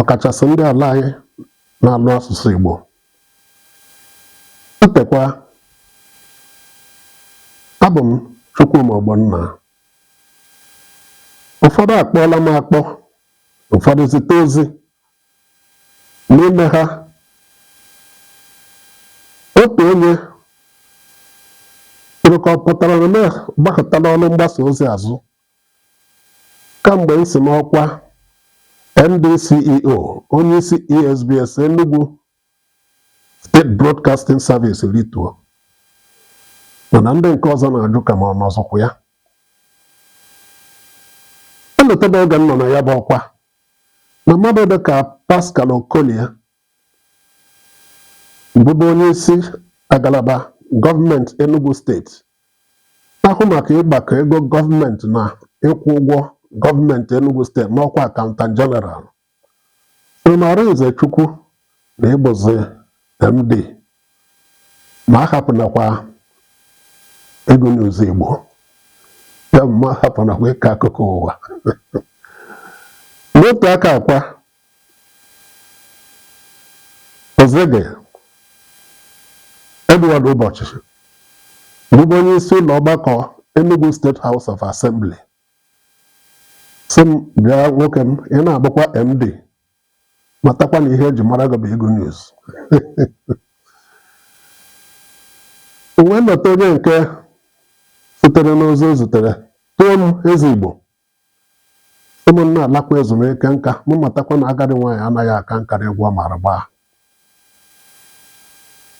ọkachasị ndị ala anyị na-anụ asụsụ Igbo ntekwa abụ m Chukwuma Ogbonna ụfọdụ akpọọla m akpọ ụfọdụ zite ozi n'ime ha otu onye jụrụ ka ọ pụtara na m agbakụtala ọlụ mgbasa ozi azụ kamgbe m si n'ọkwa MD CEO onyeisi ESBS Enugu State Broadcasting Service rituo mana ndị nke ọzọ na-ajụ ka ma ọ nọzikwa ya m lotabe oge m nọ na ya bụ ọkwa na mmadụ dị ka Pascal Okolie bụbu onye isi agalaba gọọmenti Enugu steeti na-ahụ maka ịgbakọ ego gọọmenti na ịkwụ ụgwọ gọọmenti Enugu steeti n'ọkwa akaụntan jeneral Arịnze Chukwu na ị bụzi MD ma ahapụnakwa ịgụ news Igbo ya bụ ma ahapụnakwa ịkọ akụkọ ụwa n'otu aka ahụkwa Ezege Edward Ubosi bụbu onye isi ụlọ ọgbakọ Enugu State House of Assembly sị m bịa nwoke m ị na-abụkwa MD matakwa na ihe eji mara gị bụ ịgụ news m wee lota onye nke sitere n'ozi o zitere tuo m eze Igbo mụ na-alakwa ezumike nka ma matakwa na agadi nwaanyị anaghị aka nka n'egwu ọ maara agba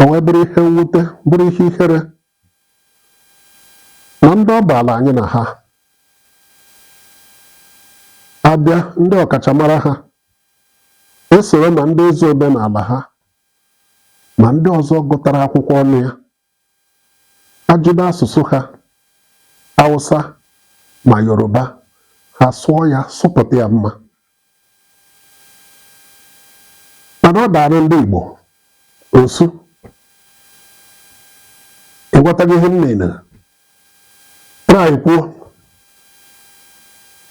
o wee bụrụ ihe mwute bụrụ ihe ihere na ndị ọ baala anyị na ha abịa ndị ọkachamara ha esoro na ndị ezi omenala ha ma ndị ọzọ gụtara akwụkwọ ọnụ ya ajụ n'asụsụ ha Hausa ma Yoruba ha sụọ ya sụpụta ya mma mana ọ daara ndị Igbo ọ sị ị ghọtaghị ihe m na-atrai kwuo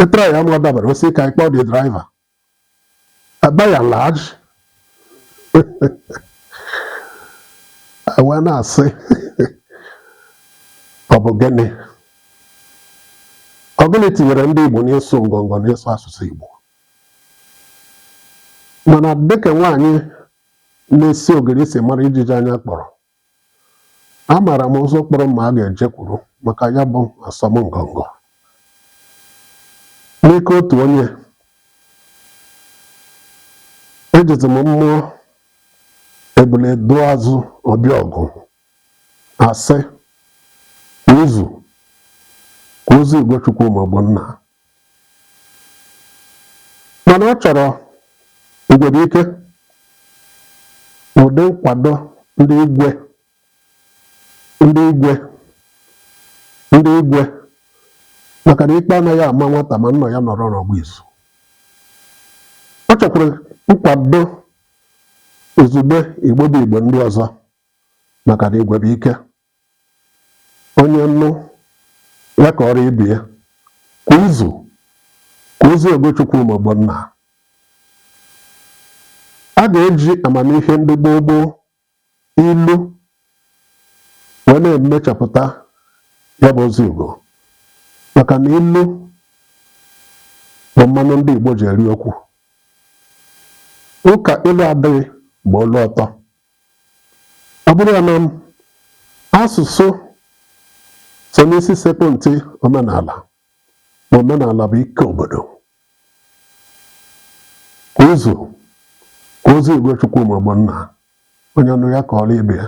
ịtrai ya ma ọ dabara ọ sị ka anyị kpọọ the driver Uh, by and large, e wee na-asị ọ bụ gịnị ọ gịnị tinyere ndị Igbo n'ịsụ ngọngọ n'ịsụ asụsụ Igbo mana dịka nwaanyị na-esi ogiri si mara ijiji anya kpọrọ Amaara m ụzọ kpọrọ mma a ga-ejekwuru maka ya bụ asọmngọngọ. N'ike otu onye, ejizi m ma ebule laa azụ ọ bịa ọgụ asị n'izu kwa ozi Igwe Chukwuma Ogbonna mana ọ chọrọ igwe bụ ike ụdị nkwado ndị igwe ndị igwe ndị igwe maka na ikpe anaghị ama nwata ma nna ya nọrọ n'ọgba izu ọ chọkwara nkwado izugbe Igbo bụ Igbo ndị ọzọ maka na igwe bụ ike onye nụ ya kọọrọ ibe ya kwa izu kwa ozi Igwe Chukwuma Ogbonna a ga-eji amamihe ndị gboo gboo ilu wee na-emechapụta ya bụ ozi Igbo maka na ilu bụ mmanụ ndị Igbo ji eri okwu ụka ilu adịghị bụ olu ọtọ ọ bụrụ ya na asụsụ so n'isi sekpụ ntị omenala ma omenala bụ ike obodo kwa izu kwa ozi Igwe Chukwuma Ogbonna onye nụ ya kọọrọ ibe ya